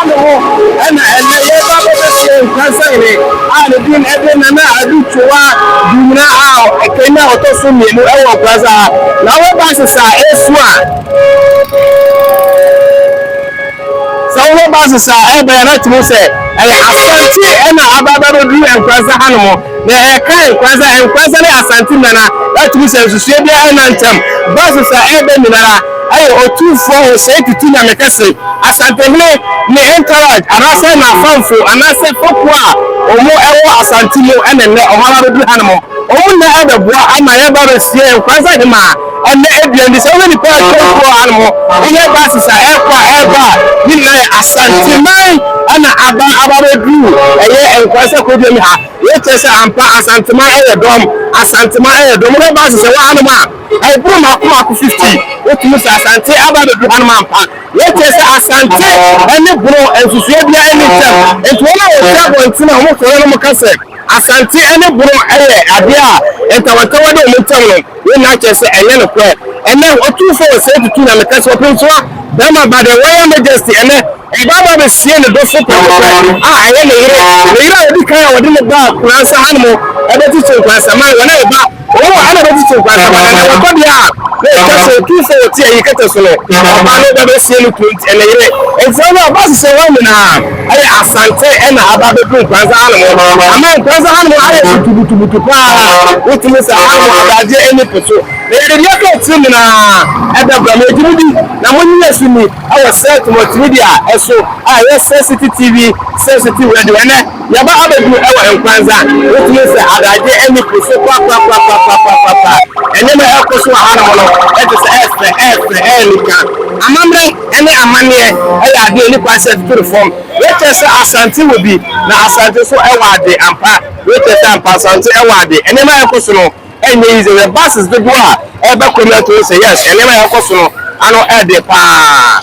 Ano hɔ na ɛnnɛ yɛreba abɛbɛtie nkransahene a ne din de Nana Adu Twowaa Dumena a ɛkanyan ɔtɔ so mmienu wɔ Nkrasa ha. Na wo ba sesa a ɛresu a, sɛ wo ba sesa a ɛrebɛn a na kyerɛ sɛ ɛyɛ Asante na aba abɛduru Nkrasa hanom. Na ɛka nkran sɛ Nkoranza ne Asante Nana atumi sɛ nsusuɛ biara nna ntam ba soso a ɛreba nyinara ɛyɛ Otumfoɔ Hosei Tutu Nyamekɛse, Asantehene ne Entourage anaasɛ n'afamfo anaasɛ fɔkuo a wɔn ɛwɔ Asante mu ɛne nnɛ wɔn ara bɛduru hanom. Wɔn nna ɛbɛboa ama yɛba abɛsie Nkoranza Hemaa. Ɛnnɛ aduan ni, sɛ wohwɛ nnipa a atwa kurow ha no ho, wohwɛ buses a ɛkɔ a ɛba a, ne nyinaa yɛ Asanteman na aba aba abɛduru ɛyɛ Nkwale sɛ kuroduam ha. Wei kyerɛ sɛ ampa Asanteman yɛ dɔm, Asanteman yɛ dɔm. Wohwɛ buses a ɛwɔ hanom a, ɛboro mmaako mmaako fifty. Wotumi sɛ Asante aba abɛduru hanom ampa. Wei kyerɛ sɛ Asante ne Bono nsusuiɛ biara nni ntam. Nti wɔn a wɔhwɛ abɔnten a wɔsɔre no wɔka sɛ Asante ne Bono yɛ adeɛ a ntawantawa da wɔn ntam no. Wei nyinaa kyerɛ sɛ ɛnyɛ nokorɛ. Ɛnnɛ, otumfoɔ wɔ saa tutu na meka sɛ ɔpɛntua barima ba the Royal Majesty ɛnnɛ ɔbaa ba bɛsie ne dɔfo prɛkopɛ a ɛyɛ ne yere, ne yere a ɔdi kan a wɔde no baa Kurasa hanom ɛbɛtutu nkwansaman wɔn a ɛba wɔn mu a ɛna ɛbɛtutu nkwansaman ɛnnɛ wɔkɔ deɛ a na ɛtwa sɛ otumfoɔ wɔte ayi kɛtɛ so no ɔbaa no ba bɛsie no tuo nti ɛne yere nti ɛnnɛ ɔbaa sesɛ wɔn nyinaa. Ɛyɛ Asante na aba abɛdu Nkoranza ha nom. Ama Nkoranza ha nom ayɛ butubutubutu pa ara. Wotumi sɛ ha nom adagyeɛ ani po so. Na yɛde deɛ ɛtɔ akyire nyinaa ɛbɛbrɛ mo. Yɛgye mo di na mo nnye yɛn so nni wɔ Cert Multimedia so a ɛyɛ Cert City TV, Cert City Radio. Ɛnnɛ yɛaba abɛdu wɔ Nkoranza. Wotumi sɛ adagyeɛ ani po so papapapapapapaapa. Nneɛma a ɛrekɔ so wɔ ha nom no ɛte sɛ ɛɛfɛ ɛɛfɛ ɛyɛ anika. Amammerɛ. ne amanneɛ yɛ adeɛ a ɛni kwan sɛ ɛtoto ne fam. Wei kyerɛ sɛ Asante wɔ bi, na Asante nso wɔ ade ampa. Wei kyerɛ sɛ ampa Asante wɔ ade. Nneɛma a ɛrekɔ so no nyɛ easy. Hwɛ buses dodoɔ a ɛreba Kwamiato wohu sɛ yes, nneɛma a ɛrekɔ so no ano yɛ den pa ara.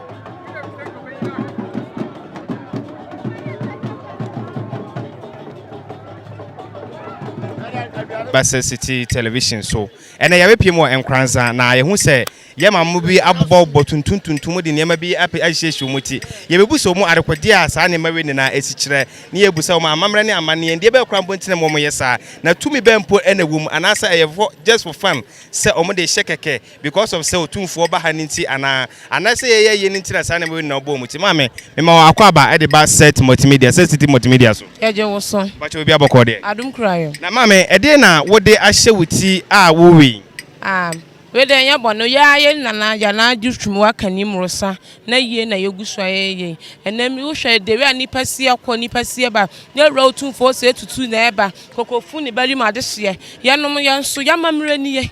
bɛsɛ city television so ɛnna yɛbɛpie mu wɔ nkransa na yɛhu sɛ yɛ maamo bi abobɔbobɔ tuntum tuntum de nneɛma bi apɛ ahyehyɛ wɔn ti yɛbɛbu sɛ wɔn adekodeɛ a saa nneɛma wei nyinaa ɛsi kyerɛ ne yɛbu sɛ wɔn amammerɛ ne amanneɛ deɛ bɛyɛ kora mpontene mu wɔn yɛ saa na tumi bɛn mpo ɛna ɛwɔ mu anaasɛ ɛyɛ fɔ just for fun sɛ wɔn de hyɛ kɛkɛ Because of sɛ otumfoɔ ba ha no nti anaa? Anaasɛ yɛyɛ yie no nti na saa nneɛma wei nyinaa ɔbɔɔ mu ti? Maame, mema wo akwaaba de ba Sɛt Mɔltimedia, Sɛt City Multimedia so. Yɛgye wo so. Mpakyɛ obi abɔkɔɔ deɛ? Adom kura yɛ. Na maame, ɛdeɛn na wode ahyɛ wo ti a wowe yi? Ah, wei deɛ ɛnyɛ bɔne o, yɛ ara yɛ nana yɛ nana gye twum wɔ aka ni mmorosa na yie na yɛgu so ayɛ yɛ yei. Ɛnnɛ mi wohwɛ ɛdɛ wei a nnipa seɛ kɔ nnipa seɛ ba, yɛn wura otumfoɔ se etutu na ɛba, koko fu ne ba rim adehyeɛ, yɛnom yɛn so, yɛn amammerɛ nie.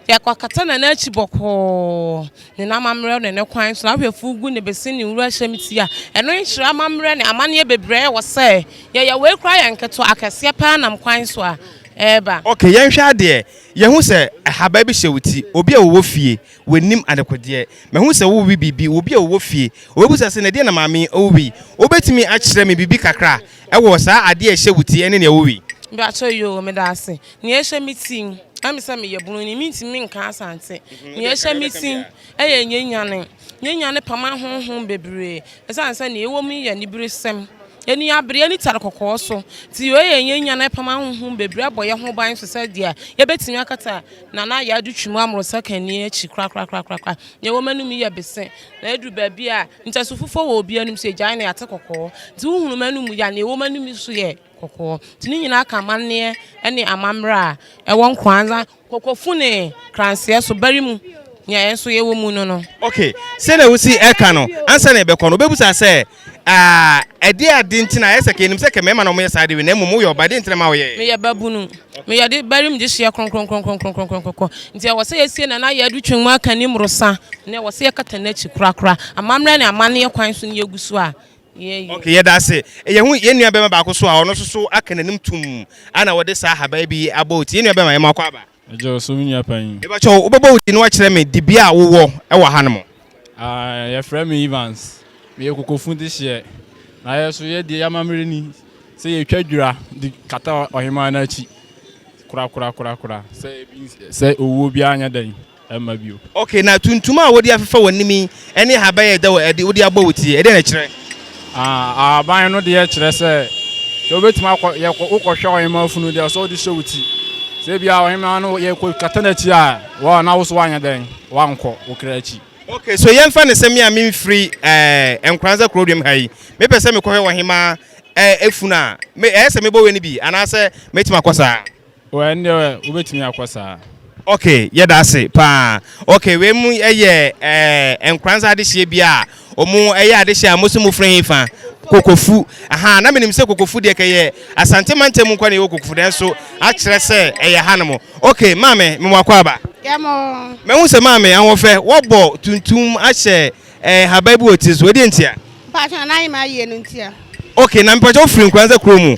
Yɛakɔakata ne nan akyi bɔkɔɔ, ne n'amammerɛ ne ne kwan so, n'ahwɛfo gu ne bese ne nwura hyɛm ti a, ɛno nkyerɛ amammerɛ ne amanneɛ bebree a ɛwɔ sɛ yɛyɛ, wei koraa yɛ nketewa, akɛseɛ paa nam kwan so a ɛreba. Ok, yɛnhwɛ adeɛ, yɛhu sɛ ahabaa bi hyɛ wo ti, obi a ɔwɔ fie, w'anim adekodeɛ, mahu sɛ worewe biribi, obi a ɔwɔ fie, ɔbɛbisa sɛ, na ɛdeɛn na maame yi rewe yi? Wobɛtumi akyerɛ me biribi kakra wɔ saa adeɛ a ɛhyɛ wo ti ne nea wowe yi? Mpakyɛw, Yoo, medaase. Nea ɛhyɛ me ti, ɛne me sɛ meyɛ bunu nti mentumi nka Asante. Nea ɛhyɛ me ti yɛ Nyenyane. Nyenyane pama honhom bebree ɛsiane sɛ nea ɛwɔ mu yɛ aniberesɛm, ani abereɛ ne tare kɔkɔɔ so. Nti wei yɛ Nyenyane ɛpama honhom bebree ɛbɔ yɛn ho ban so sɛdeɛ yɛbɛtumi akata Nana Yadu Twum Amoro Sakani akyi korakorakorakorakora. Nea ɛwɔ m'anom yi yɛ bese na ɛduru baabi a ntasu fufuo wɔ obi anom so yɛgyae no yɛate kɔkɔɔ. Nti wohunu m'anom yi a nea ɛwɔ m'anom yi so yɛ. kɔkɔɔ, nti ne nyinaa ka amanneɛ ne amammerɛ a ɛwɔ Nkoanza kɔkɔfu ne kranseɛ so bari mu, nea yɛn nso yɛwɔ mu no no. Ok, sɛdeɛ wosi ɛka no, ansa na yɛbɛkɔ no, wobɛbusa sɛ, Ah, ɛdeɛ ade nti na ayɛ sɛ, kɛnnim sɛ kɛ mmarima na wɔyɛ saa adeɛ wei, na mmom woyɛ ɔbaa, ɛdeɛ nti na ɛma woyɛɛ? Meyɛ babunu, meyɛ de bari mu gyehyeɛ kronkronkronkronkronkronkronkronkron, nti ɛwɔ sɛ yɛsie Nana Yadu Twum Akanni mmorosa, na ɛwɔ sɛ yɛkata n'akyi korakora, amammerɛ ne amanneɛ kwan so na yɛgu so a, Ok yɛdase yɛhu yɛn nua bɛma baako so a ɔno soso aka n'anim tum ana wɔde saa ahaban bi abɔ oti yɛn nua bɛma yɛma ɔkɔ aba. Ɛgya ɔso me nua panyin. Mebakyɛw wobɛbɔ wo din na wakyerɛ me dibea a wowɔ wɔ ha no mo. Aah yɛfrɛ me Evans meyɛ kokofu dehyeɛ na yɛso yɛdeɛ yɛamammerɛ ni sɛ yɛtwa dwira de kata ɔhemaa no akyi korakorakorakora sɛ owuo biara nyɛ dɛn. mma bio. Ok, na tuntum a wode afefa w'anim yi ne ahaban a ɛda adi wode abɔ wo ti, ɛdeɛn na ɛkyerɛ? Ah, ahaban no deɛ kyerɛ sɛ, sɛ wobɛtumi akɔ, yɛ kɔ, wokɔhwɛ ɔhemaa funu deɛ ɔsɛ wode hyɛ wo ti. Sɛ ebia ɔhemaa no yɛ kɔ kata n'akyi a, wɔ na wo so woanyɛ dɛn, woankɔ wo kra akyi. Ok, so yɛmfa no sɛ me a memfiri eh, Nkoranza Kurodwam ha yi, mepɛ sɛ mekɔhwɛ ɔhemaa eh, funu a, me, ɛyɛ sɛ mebɔ w'ani bi, anaasɛ mɛtumi akɔ saa? Oh ɛndeɛ wobɛtumi akɔ saa. Ok yɛda ase paa. Ok wei mo yɛ eh, nkoransa adehyeɛ bi a ɔmo ɛyɛ adehyeɛ a mose mofrɛ he fa? Kokofu. Ahaa na menim sɛ kokofu deɛ kɛ yɛ Asante mantam mu nkoa na yɛwɔ kokofu nanso akyerɛ sɛ ɛyɛ hanom. Ok maame mewɔ akwaaba. Yɛ mo. Mahu sɛ maame ahoɔfɛ wɔbɔ tuntum ahyɛ eh, nhaban bi wɔ tiri so ɛdeɛ ntia? Mpakyɛ na n'ayema ayie no ntia. Ok na mepakyɛ wofiri nkoransa kuro mu?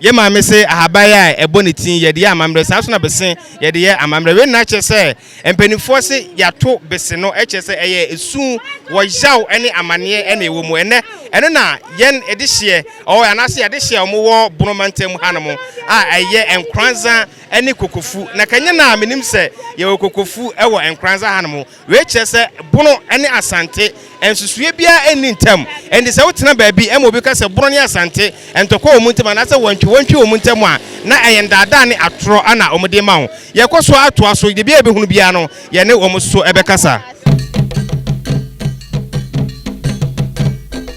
Yɛ maame se ahaban a ɛbɔ ne ti yɛde yɛ amammerɛ, saa nso na bese yɛde yɛ amammerɛ. Wei nyinaa kyerɛ sɛ mpanimfoɔ se yɛato bese no kyerɛ sɛ ɛyɛ esu wɔ yaw ne amaneɛ na ɛwɔ mu. Ɛnnɛ ɛno na yɛn dehyeɛ ɔɔ anaase y'adehyeɛ a wɔwɔ Bono mantam mu hanom a ɛyɛ Nkoranza ne Kokofu. Na ka ɛnyɛ na a menim sɛ yɛwɔ Kokofu wɔ Nkoranza hanom. Wei kyerɛ sɛ Bono ne Asante, nsusuiɛ biara nni ntam. Enti sɛ wotena baabi ma obi ka sɛ Bono ne Asante, ntɔkwa wɔ wɔn ntam anaasɛ wɔntwe wɔntwe wɔn ntam a, na ɛyɛ nnaadaa ne atorɔ na wɔde rema wo. Yɛkɔ so ara toa so, biribiara a yɛbɛhunu biara no, yɛne wɔn nso bɛkasa.